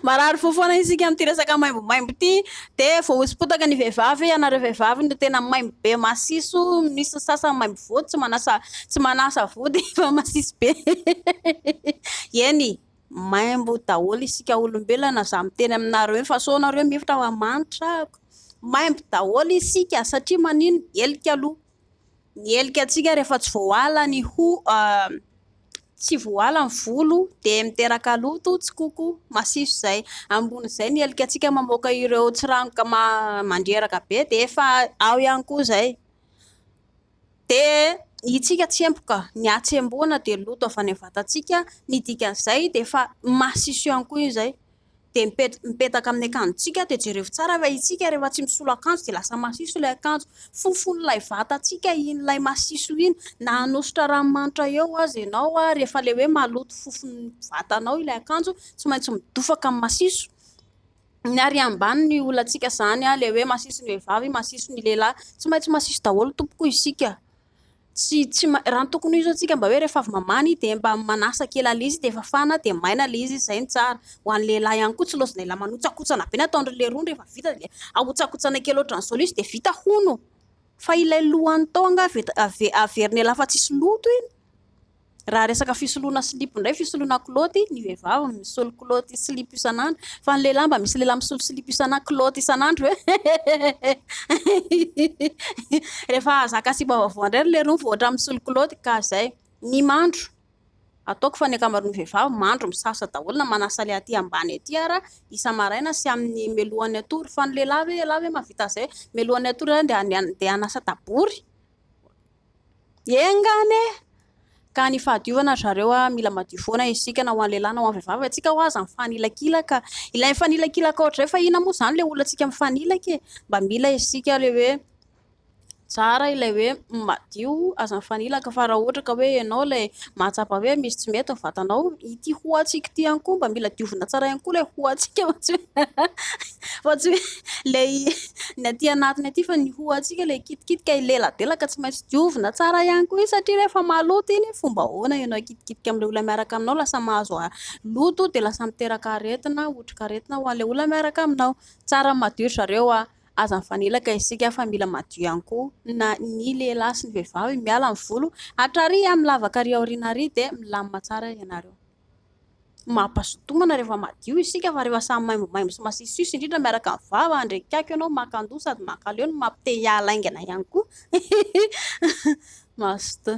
Marary fo foana isika amin'ity resaka maimbomaimbo ity. Dia voahoso-potaka ny vehivavy. Ianareo vehivavy no tena maimbo be masiso. Misy ny sasany maimbo vody, tsy manasa tsy manasa vody fa masiso be. Eny, maimbo daholo isika olombelona. Izaho miteny aminareo eny fa sao nareo mihevitra fa manitra aho. Maimbo daholo isika satria manino? Helika aloha. Ny helika antsika rehefa tsy voala ny ho tsy voala ny volo dia miteraka loto, tsikoko, masiso izay. Ambonin'izay ny helika antsika mamoaka ireo tsiranoka mandreraka be dia efa ao ihany koa izay. Dia ny antsika tsemboka, ny hatsembona dia loto avy any amin'ny vatantsika, ny dikan'izay dia efa masiso ihany koa izay. dia mipetaka mipetaka amin'ny akanjontsika dia jereo tsara fa isika rehefa tsy misolo akanjo dia lasa masiso ilay akanjo fofon'ilay vatantsika iny ilay masiso iny na hanosotra ranomanitra eo aza ianao ary rehefa ilay hoe maloto fofon'ny vatanao ilay akanjo tsy maintsy midofaka amin'ny masiso ny ary ambany ny olantsika izany aho ilay hoe masiso ny vehivavy masiso ny lehilahy tsy maintsy masiso daholo tompoko isika Tsy, tsy, raha ny tokony ho izy antsika mba hoe rehefa avy mamany dia mba manasa kely an'ilay izy dia fafana dia maina ilay izy, izay no tsara. Ho an'ny lehilahy ihany koa tsy lozinay ilay manotsakotsana be ny ataon'dry leirony rehefa vita dia ahotsakotsana kely ohatran'ny sôlisy dia vita hono. Fa ilay lohany tao angaha averina elafa tsisy loto iny? Raha resaka fisoloana silipo indray, fisoloana kilaoty, ny vehivavy misolo kilaoty sy silipo isan'andro. Fa ny lehilahy mba misy lehilahy misolo silipo isan'andro, kilaoty isan'andro ve? Rehefa zaka sipa vaovao indray ry leirony vao ohatran'ny misolo kilaoty ka izay. Ny mandro, ataoko fa ny ankamaroan'ny vehivavy mandro misasa daholo na manasa ilay aty ambany aty ara isa-maraina sy amin'ny melohan'ny hatory. Fa ny lehilahy ve, ialahy ve mahavita an'izay hoe melohan'ny hatory izany dia hanasa tabory? Enga anie ka ny fahadiovana ry zareo a! Mila madio foana isika na ho an'ny lehilahy na ho an'ny vehivavy. Antsika ho'a aza mifanilakilaka. Ilay mifanilakilaka ohatr'izay fa inona moa izany ilay olona antsika mifanilaka e? Mba mila isika ilay hoe tsara ilay hoe madio, aza mifanilaka fa raha ohatra ka hoe ianao ilay mahatsapa hoe misy tsy mety ny vatanao, ity ho'antsika ity ihany koa mba mila diovina tsara ihany koa ilay ho'antsika mantsy hoe. Fa tsy hoe ilay ny aty anatiny aty fa ny hohontsika ilay kitikitika hileladelaka tsy maintsy diovina tsara ihany koa iny satria rehefa maloto iny fomba ahoana ianao hikitikitika amin'ilay olona miaraka aminao lasa mahazo loto dia lasa miteraka aretina, otrikaretina ho an'ilay olona miaraka aminao. Tsara ny madio ry zareo a! Aza mifanelaka isika fa mila madio ihany koa na ny lehilahy sy ny vehivavy. Miala ny volo, hatrary amin'ny lavaka ary aoriana ary dia milamina tsara ianareo. Mampazoto homana rehefa madio isika fa rehefa samy maimbomaibo sy masisisy indrindra miaraka amin'ny vava ary akaiky eo ianao makan-doha sady mankaleo no mampite hiala haingana ihany koa. Mazotoa.